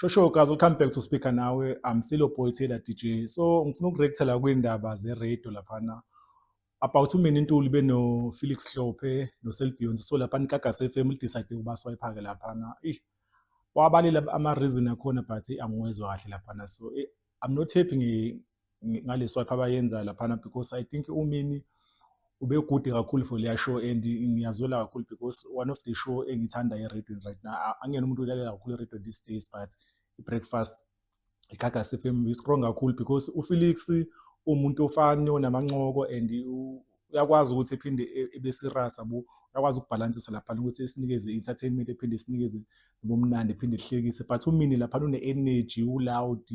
Shosho guys, we'll come back to speaker nawe. I'm still a boy Taylor DJ. So ngifuna ukureacta la kwindaba ze radio laphana. About umini intuli beno Felix Hlophe no Selbion so lapha nikaga FM lidecide ukuba swayiphake laphana. Eish. Wabalile ama reason akhona but angiwezwa kahle laphana. So eh, I'm not happy ngi ngale swipe abayenza laphana because I think umini ube good kakhulu for leya show and ngiyazwela kakhulu because one of the show engithanda eRadio right now angena umuntu ulalela kakhulu eRadio these days but i-breakfast iGagas FM is strong kakhulu because uFelix umuntu ofani onamancoko and uyakwazi ukuthi ephinde e, ebe serious abo uyakwazi ukubhalansisa lapha ukuthi sinikeze entertainment ephinde sinikeze ubumnandi ephinde sihlekise but umini lapha une energy u loud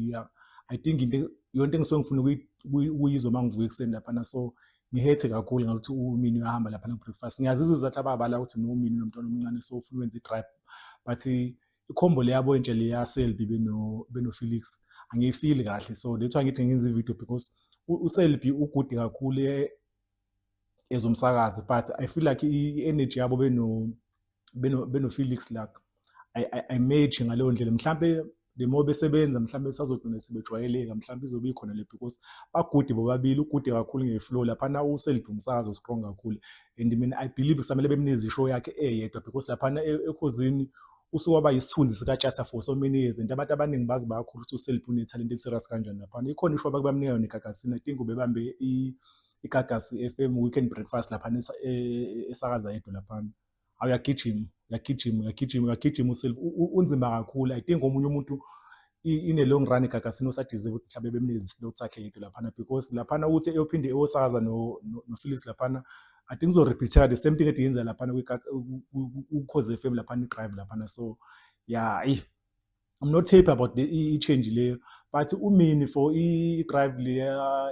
i think into yonke engisuke ngifuna ukuyizwa mangivuka ekuseni lapha na so ngihethe kakhulu ngakuthi umini uyahamba lapha no breakfast ngiyazizwa ukuthi ababala ukuthi no mini nomntwana omncane so ufuna wenza i drive but ikhombo leyabo intshe leya selbi beno beno felix angiyifili kahle so that's why ngithi ngenza ivideo because uselbi ugude kakhulu e, ezomsakazi but i feel like i-energy yabo beno beno beno felix like ayimeji ngaleyo ndlela mhlampe the more besebenza mhlawumbe sazogcina sebejwayeleka mhlawumbe izobe ikhona le because bagude bobabili ugude kakhulu ngeflow laphana uselibhumsakazo strong kakhulu and mina i believe kusamele bemnezi show yakhe eyedwa because laphana e, ekhozini usuke waba yisithunzi sikatshatha for so many years and abantu abaningi bazi bakhulu ukuthi useliphi unethalente eliserious kanjani laphana ikhona ishow abakubamnika yona igagasini i think ubebambe igagasi FM weekend breakfast laphana e, e, esakaza yedwa laphana awuyagijima uyagijima uyagijima uyagijima uself unzima kakhulu i think omunye umuntu in a long run Gagasini usadizile ukuthi mhlawumbe bemnikeza islot sakhe yedwa laphana because laphana ukuthi eyophinde eyosakaza nophilisi laphana I think uzorepeateka the same thing ethi yenza laphana kukhoze FM laphana idrive laphana so yeah eyi I'm not happy about the i-change leyo but umini for i-drive le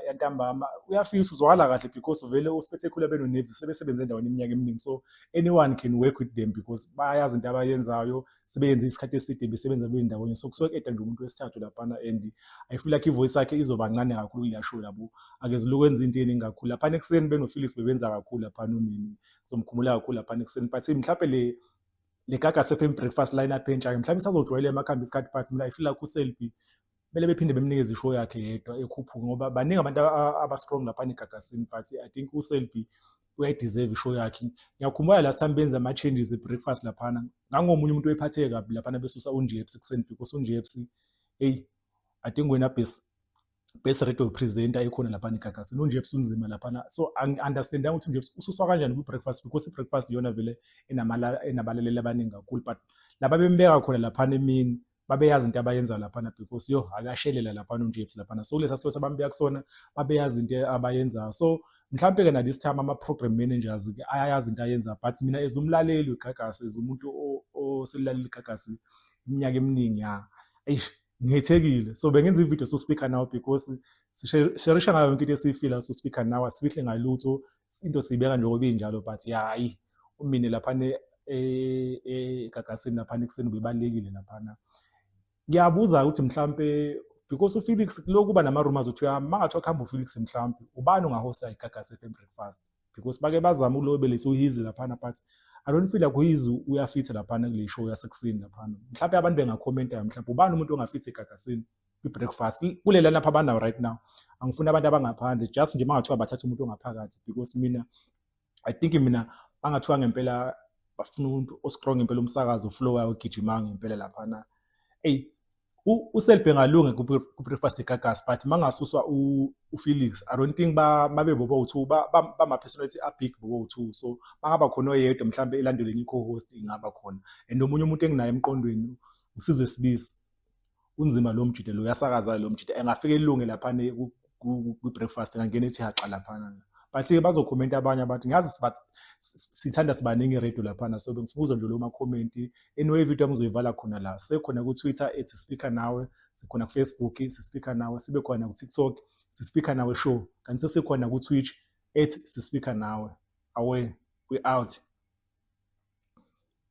yantambama uyafisa uzwakala kahle because vele usiphethe khula benoneves sebesebenze endaweni iminyaka eminingi so anyone can work with them because bayazi into abayenzayo sebeyenze isikhathi eside besebenza kule ndawonye so kusuke kuyeda nje umuntu wesithathu laphana and i feel like ivoice yakhe izoba ncane kakhulu kule show labo akezile ukwenza into eningi kakhulu laphana ekuseni benofelix bebenza kakhulu laphana umini ngizomkhumula kakhulu laphana ekuseni but mhlawumbe le le gaga sefm breakfast line up entsha mhlawumbe isazojwayela emakhambi isikhathi but mina i feel like uselbi kumele bephinde bemnikeze ishow yakhe yedwa ekhuphuke ngoba baningi abantu aba-strong lapha negagasini but i think uselby uyayideserve ishow yakhe ngiyakhumbula last time benza ama-changes e-breakfast laphana ngangomunye umuntu oyiphatheke kabi laphana besusa unjepsi ekuseni because unjepsi eyi adinga wena base best radio presenter ekhona lapha negagasini unjepsi unzima laphana so angi-understandanga ukuthi unjepsi ususwa kanjani kwi-breakfast because i-breakfast iyona vele enabalaleli abaningi kakhulu but laba bembeka khona laphana emini babeyazi into abayenza laphana because yo akashelela laphana uNjefs laphana so kulesa silo sabambeya kusona babeyazi into abayenzayo so mhlawumbe ke na this time ama program managers ke ayayazi into ayenza but mina as umlaleli uGagasi as umuntu oselilaleli uGagasi iminyaka eminingi ya eish ngithekile so bengenza ivideo so speaker now because sisherisha ngayo yonke into esiyifila so speaker now asifihle ngalutho into siyibeka njengoba injalo but yayi umine laphana egagasini e, e, laphana ekuseni ubebalekile laphana ngiyabuza ukuthi mhlampe because ufelix lokuba nama-rumors ukuthi mangathiwa kuhamba ufelix mhlampe ubani ungahosta igagasi FM breakfast because bake bazama ukulobelisa uhizi laphana but i don't feel like uhizi uyafitha laphana kule show yasekuseni laphana mhlawumbe abantu bengakhomentayo mhlawumbe ubani umuntu ongafitha egagasini kwi-breakfast kulela lapha abanawo right now angifuni abantu abangaphandle just nje mangathiwa bathatha umuntu ongaphakathi because mina i think mina bangathiwa ngempela bafuna umuntu ostrong impela umsakazo flow wayo gijima ngempela lapha na ey uselbe ngalunge kubreakfast egagas but mangasuswa ufelix i don't think babe bobo uthu bama-personality abig bobo uthu so bangaba khona oyedwa mhlawumbe elandeleni i-co-host ingaba khona and omunye umuntu enginayo emqondweni usizwe sibisi unzima lo mjita lo uyasakaza lo mjita engafika elunge lapha kwi breakfast ngangena ethi haxa lapha but ke bazokhomenta abanye abantu ngazi sithanda sibaningi radio laphana so bengifuza nje lo makhomenti anyway video yami uzoyivala khona la sekhona ku Twitter ethi speaker nawe sikhona ku Facebook sispeaker nawe sibe khona ku TikTok sispeaker nawe show kanti sekhona ku Twitch ethi sispeaker nawe away we out